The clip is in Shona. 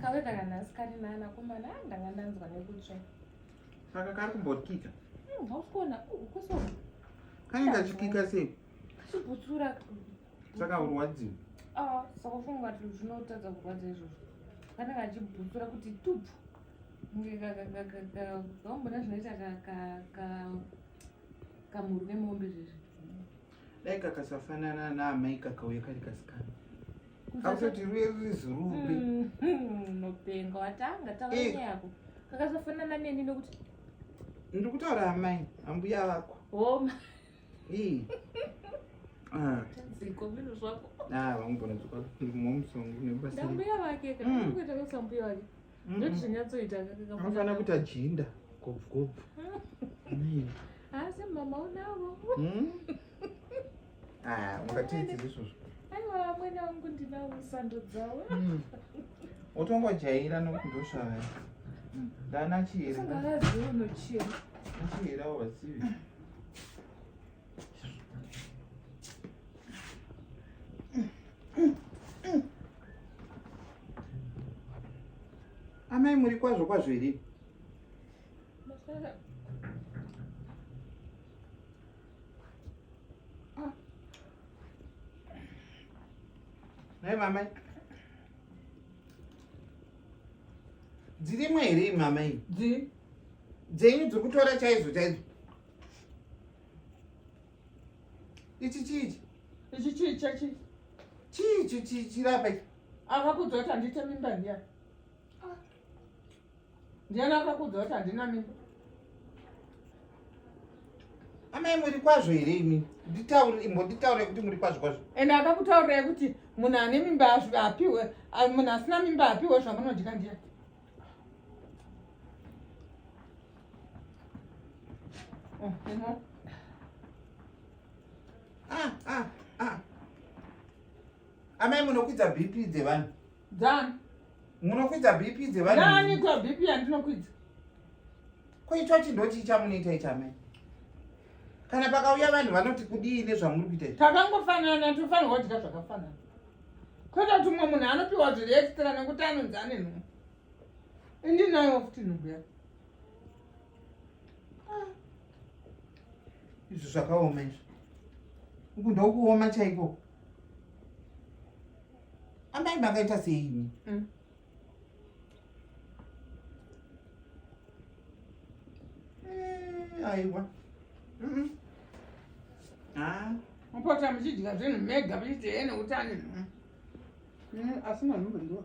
kave kakanhasi kari nana kumana ah, ndanga ndanzwa nekutsva saka kari kumbokika hmm, hausikuona ukuso uh, kainge kachikika sei kachibutsura saka urwadziwa ah, saka funga kuti zvinotadza kurwadza izvozvo kanenge kachibutsura kuti tupfu kaombona zvinoita kamurwi nemombe zvezvi dai kakasafanana naamai kakauya kari kasikana kausati ruye ruri zurube mm, mm, nopenga watanga taura eh. yako kakasafanana neni nokuti ndiri kutaura amai ambuya vako homa zikombino zvako ah, vangogona dzoka mumwe musongo nebasa ndambuya vake kaakuita mm. vesambuya vake Mafana kuita jinda gobvu gobvu. Asi mama unavo. Hmm? Ah, ungatiiti zvisvozvo. Aiwa amwene wangu ndinavo sando dzavo. Hmm. Utongojaira nokundosvara. Hmm. Ndana chiri. Singalazi unochira. Chira wazivi. amai muri kwazvo kwazvo here nhai ah. mamai dzirimwe here mamai dzenyu dziri kutora chaizvo chaizvo ichi chichi ichi chii chachi chii chichi chirapa ichi akakuudza kuti handiite mimba ndiya ndiyani akakuudza kuti handina mimba amai muri kwazvo here imi nditaure imbonditaure kuti muri kwazvo kwazvo ende akakutaurai kuti munhu ane mimba apihwe munhu asina mimba apihwe zvamunodya ndiya Ah, ah, ah. amai munokwidza bp dzevanhu dzani munokwidza bp dzevanhu nani kwa bp yandinokwidza koitwa chindoti ichamunoita ichamai kana pakauya vanhu vanoti kudii nezvamuri kuita takangofanana tofanirwa kudya zvakafanana kwete kuti umwe munhu anopiwa zviri extra nekuti anonzi ane nhumbu indinayo futi nhumbu yake izvi zvakaoma izvi uku ndokuoma chaiko amai makaita seini mm. Eh, aiwa ah. mupota muchidya zvinhu mega muchiti hee nekuti ane mm. mm, asi manhu mandiwa